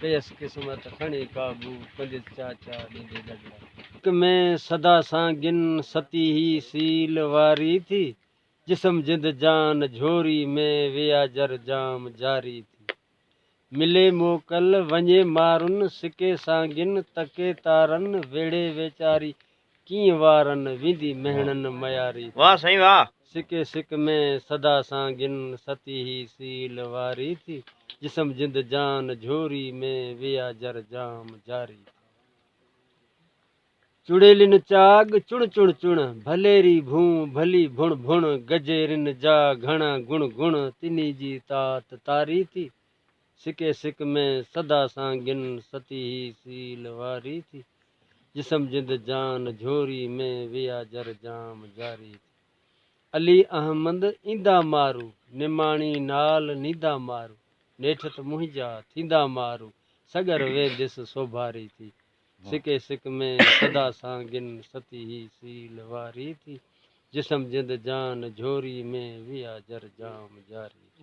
پيس قسمت کڻي قابو، پنجت چاچا ڏيندي ڏڳلا. اک ۾ سدا سان گن، ستي هي سيل واري ٿي. جسم جند جان، جهوري ۾ ويا جر جام جاري ٿي. ملي موڪل، وڃي مارن، سڪي سانگن، تڪي تارن، ويڙهي ويچاري ڪيئن وارن ويندي مهڻن مياري ٿي. واه سائين واه. سڪي سڪ ۾ سدا سانگين ستي هي سيل واري ٿي. جسم جند جان جهوري ۾ ويا جر جام جاري ٿي. چڙيلين چاڳ چڻ چڻ چڻ، ڀليري ڀون ڀلي ڀڻ ڀڻ، گجيرين جا گهڻا گڻ گڻ، تني جي تات تاري ٿي. سڪي سڪ ۾ سدا سان گن ستي هي سيل واري ٿي جسم جند جان جهوري ۾ ويا جر جام جاري ٿي علي احمد ايندا مارو نماڻي نال نيندا مارو نيٺت منهنجا ٿيندا مارو سڳر وينديس سوڀاري ٿي سڪي سڪ ۾ سدا سان گن ستي هي سيل واري ٿي جسم جند جان جهوري ۾ ويا جر جام جاري ٿي.